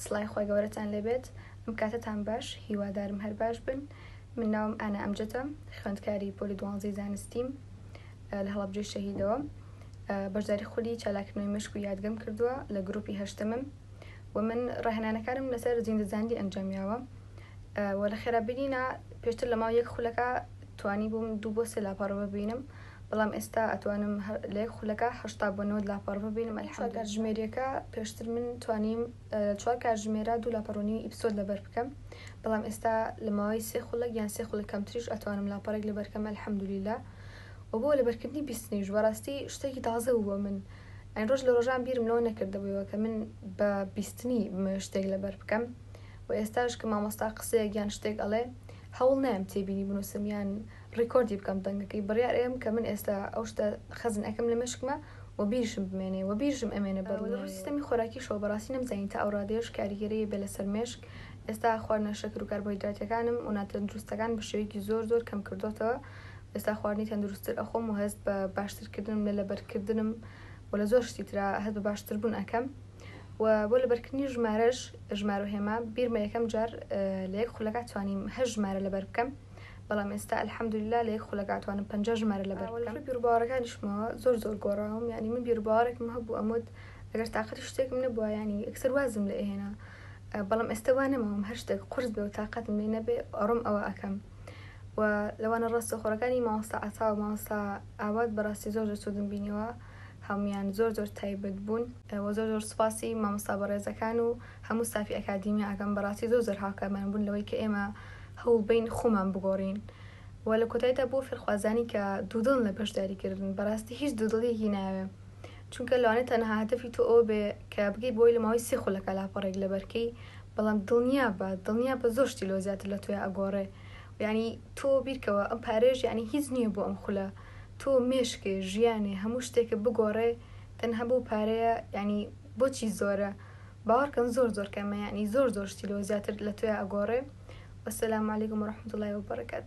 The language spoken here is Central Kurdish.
سڵای خوای گەورەتان لێبێت ئەم کاتەتان باش هیوادارم هەر باش بن من ناوم ئانا ئەمجەدە خوێندکاری پۆلی دوانزەی زانستیم لە هەڵەبجەی شەهیدەوە بەشداری خولی چالاکردنەوەی مشک و یادگەم کردووە لە گروپی هەشتمم و من ڕاهێنانەکانم لەسەر زیندەزاندی ئەنجامیاوە و لە خێرابینینا پێشتر لە ماو یەک خولەکە توانی بووم دوو بۆ سێ لاپەڕە ببینم بەڵام ئێستا ئەتوانم هەر لە یەک خولەکە هەشتا بۆ نەوەد لاپەڕە ببینم الحمدللە. چوار کاتژمێریەکە پێشتر من توانیم لە چوار کاتژمێرە دوو لاپەڕە و نیوی ئیپسۆد لەبەر بکەم بەڵام ئێستا لە ماوەی سێ خولەک یان سێ خولەک کەمتریش ئەتوانم لاپەڕێک لەبەر کەم الحمدللە و بۆ لەبەرکردنی بیستنیش بەڕاستی شتێکی تازە بوو بۆ من ئەی ڕۆژ لە ڕۆژان بیرم لەوە نەکردبوویەوە کە من بە بیستنی بمەوێ شتێک لەبەر بکەم و ئێستاش کە مامۆستا قسەیەک یان شتێک ئەڵێ هەوڵ نایم تێبینی بنووسم یان ڕیکۆردی بکەم دەنگەکەی بڕیار ئەیەم کە من ئێستا ئەو شتە خەزن ئەکەم لە مێشکما وە بیرشم بمێنێ وە بیرشم ئەمێنێ بە دڵنیایەوە. لە ڕووی سیستەمی خۆراکیشەوە بەڕاستی نەمزانی تا ئەو ڕادەیەش کاریگەری هەیە بێ لەسەر مێشک ئێستا خواردنە شەکر و کاربۆهیدراتیەکانم و ناتەندروستەکان بە شێوەیەکی زۆر زۆر کەم کردۆتەوە و ئێستا خواردنی تەندروستتر ئەخۆم و هەست بە باشتر کردنم لە لەبەرکردنم و لە زۆر شتی ترا هەست بە باشتر بوون ئەکەم و بۆ لەبەرکردنی ژمارەش ژمارە و هێما بیرمە یەکەم جار لە یەک خولەکا توانیم هەشت ژمارە لەبەر بکەم. بەڵام ئێستا الحمدللە لە یەک خولەکا توانم پەنجا ژمارە لەبەر بکەم لەڕووی بیروباوەڕەکانیشمەوە زۆر زۆر گۆڕاوم یانی من بیروباوەڕێکم هەبوو ئەموت ئەگەر تاقەتی شتێکم نەبووە یانی یەکسەر وازم لێ ئەهێنا بەڵام ئێستا وا نەماوم هەر شتێک قورس بێ و تاقەتم لێ نەبێ ئەڕۆم ئەوە ئەکەم و لەوانە ڕاستەوخۆڕەکانی مامۆستا عەتا و مامۆستا ئاوات بەڕاستی زۆر زۆر سوودم بینیوە هەموویان زۆر زۆر تایبەت بوون و زۆر زۆر سوپاسی مامۆستا بەڕێزەکان و هەموو ستافی ئەکادیمیا ئەکەم بەڕاستی زۆر زۆر هاوکارمان بوون لەوەی کە ئێمە هەوڵبەین خۆمان بگۆڕین و لە کۆتایدا بۆ فێرخوازانی کە دوودڵن لە بەشداری کردن بەڕاستی هیچ دوودڵیەکی ناوێ چونکە لەوانێت تەنها هەدەفی تۆ ئەو بێ کە بگەی بۆی لە ماوەی سێ خولەکە لاپەڕێک لە بەرکەی بەڵام دڵنیا بە دڵنیا بە زۆر شتی لۆ زیاتر لە تۆیا ئەگۆڕێ یعنی تۆ بیرکەوە ئەم پارێژ یعنی هیچ نییە بۆ ئەم خولە تۆ مێشکێ ژیانێ هەموو شتێکە بگۆڕێ تەنها بۆ پارەیە یعنی بۆچی زۆرە باوەڕکەن زۆر زۆر کەمە یانی زۆر زۆر شتی لۆ زیاتر لە تۆیا ئەگۆڕێ وەسەلام علیکم و رەحمەتوڵای وبەڕەکات.